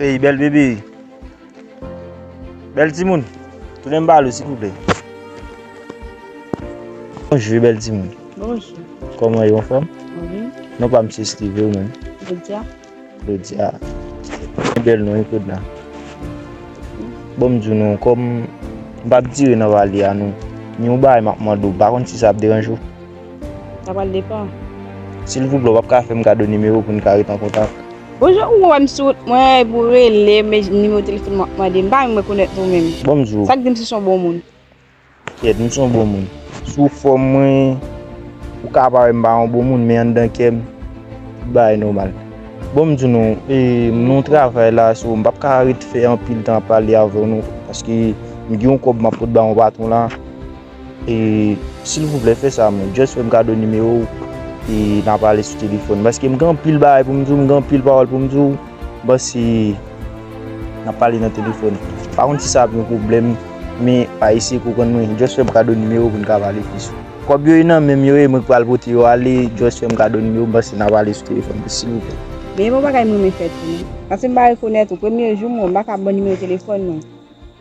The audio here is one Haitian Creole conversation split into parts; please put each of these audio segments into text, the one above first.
Ey bèl bebe Bèl timoun Tounen m bal ou silvouplè Bonjou bèl timoun Bonjou Kòman ou anfòm? Wi Non pa m se Steve ou menm? Claudia Claudia Yon bèl non wi Claudia Bon m di w non kòm m pa p dire nan pale a non gen yon bagay m ap mande w m pa konn si sa ap deranje w? Sa pral depan. Silvouplè wap ka fèm kado nimewo poun ka ret an kontak. Bonjou ou wèm sou wout mwen epou relem men nimewo telefon wap mande m pa menm rekonèt ou menm Bonjour. Sak dim si son bon moun. Kyèt m son bon moun. Sou fòm mwen ou ka pa wèm pa yon bon moun men anndan kèm tout bagay nòmal. Bon m di nou e m nan yon travay la so m pap ka ret fè anpil tan ap pale avèw non paske m gen yon kòb map pot ba yon patron la. E silvouplè fè sa mwen just fèm kado nimewo w e na pale sou telefòn paske m gen anpil bagay pou m di w, m gen anpil pawòl pou m di w bon si na pale nan telefòn pa konn si sa ap yon pwoblèm men pa eseye konprann mwen just fèm kado nimewo w pou n ka pale plis. Kòb yo e nan menm yo e mwen ki pral pote yo ale just fèm kado nimewo m paske na pale sou telefòn silvouplè. Men e pa bagay m renmen fè tou non paske m pa rekonèt ou premye jou m wè w m pa ka ban w nimewo telefòn mwen.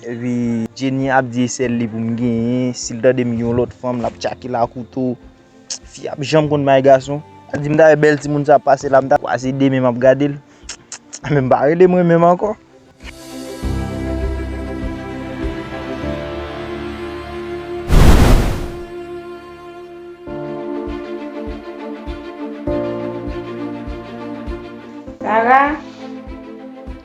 Epi Jenny ap di e sèl li pou m genyen, si l tande m gen yon lòt fanm l ap tchake l a kouto. Fi a p janm konn bay gason. Al di m ta wè bèl timoun sa ap pase la m ta kwaze 2 men m ap gade l. Men m pa rele mwen menm ankò. Sara!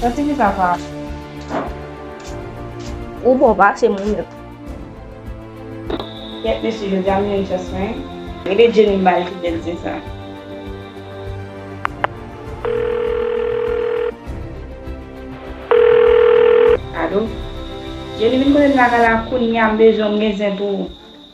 Sa ti fi sa pa. Ou bon pase moun yo. Kèt mesye yo dam yo just fine. Rele Jenny mbal ki bèl zin sa. Alo Jenny vin kotem lakay la kounya mbezwen ou mgen zen pou ou.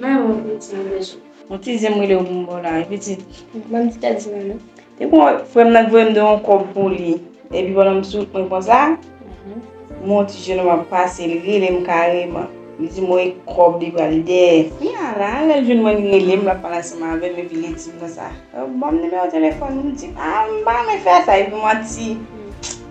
Mwen wè w pitit mwen bezwen. Yon ti zen m rele w pou m ba w la ri pitit. Ban m ti kèk zen an non. Te gen yon frè m nan ki voye m de yon kòb pou li. Epi pandan m sou wout mwen konsa, m wè yon ti jenòm ap pase li rele m kareman. Li di m wè kòb li pral dèyè. Kounye a la, lè l jwenn mwen li rele m, l ap pale ansanm avè m epi li di m konsa, ban m nimewo telefòn ou. M di, a m pa renmen fè sa epi m wè yon ti.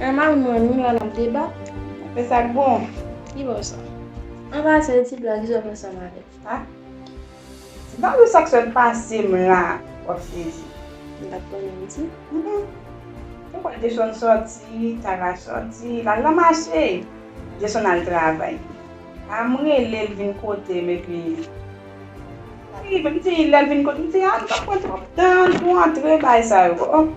Emma wi mwen menm la nap debat aprè sak bon ki bò sa. An pase ti blag jan mwen sa male a. Ti blag ou sak sot pasem la wap sezi. M pat konnen m di. Ou kwè Jason sòti, Tara sòti, lal nan mache, Jason al travay. Am relel vin kotem epi. Wi menm ti lèl vin kot mdi a nou pap pran trop tan pou antre bay sa yo ok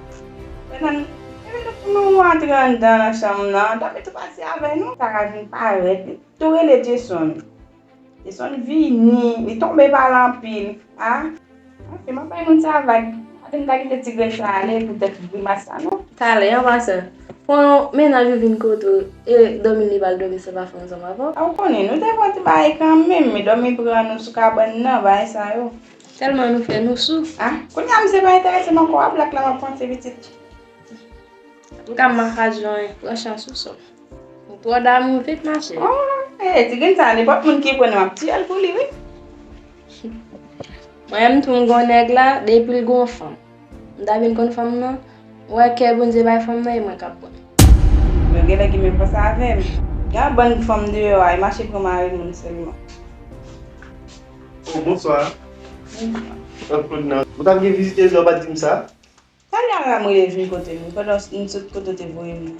Fènann Ebyen nou pou nou antre anndan nan chanm nan dòmi tou pati avè nou. Sara vin parèt li tou rele Jason Jason vini li tonbe pa l anpil ah ok map bay moun sa vag Aden pa kite ti grenn sa ale poutèt grimas sa non. Talè an ma sè Pou yon mennaj ou vin kote w e dòmi li pa al dòmi se pa fè ansanm avè w. Ou konnen, nou te fè ti bagay kanmenm e dòmi pran nou sou kabann nan, bagay sa yo. Tèlman nou fè nou sou. A, kounye a misye pa enterese m ankò a, blak la m ap panse pitit. M ka maka jwen, pran chans ou sòm. Ou twò damou vit ma cheri. O, e ti grenn sa a nenpòt moun ki pran li m ap tiye l pou li wi. Mwen menm tou m gen yon nèg la depi l gen yon fanm. M ta vin konn fanm nan. Wè kè Bondye bay fanm nan e mwen kap konn. Mwen genlè gen menm panse avèm. Gen bann fanm deyò a e mache pran mari moun sèlman. Oh bonswa. Bonswa. Claude nan. Ou tap gen vizitez la ou pat dim sa. Talè a la m rele vin kotem wi pandan m sot kote w te voyem nan.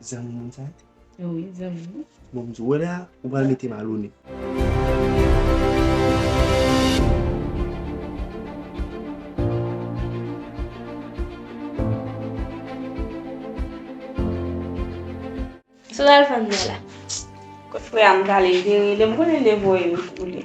Zanmi moun sa? Oui, zanmi moun. Bon, mdi wè la, ou pral mete m alone. Sa w pral fè m wè la? Kot frè a m prale vire li, m konnen li voye m pou li.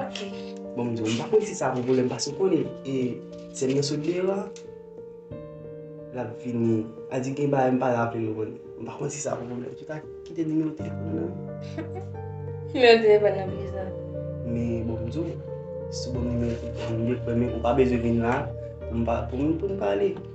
Ok. Bon m di w, m pa konn si sa pou volè m pase w konnen e sè m nan sot deyò a, l ap vini, a di gen bagay m pa raple l konnen. M pa konn si sa pou volè. Ou ta kite nimewo telefòn nan m? Nimewo telefòn nan pou kisa? Men bon m di w, si w ban m nimewo telefòn nan m, m gen premye, ou pa bezwen vin la pou m pa, pou m pale.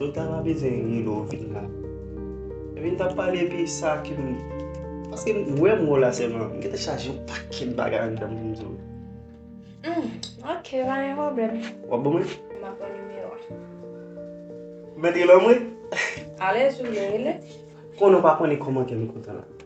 Nou ta va bezwen ri lè w vin la. Epi n t ap pale epi sa ki m. Paske m wè m wè w la sèlman. M gentan chaje yon pakèt bagay anndan m pou m di w. Humm ok pa gen pwoblèm. W ap ban mwen? M ap pran nimewo a. Mèt rele w mwen? Alèz ou vle rele. Konnen w pa konnen kòmantè m kontan la.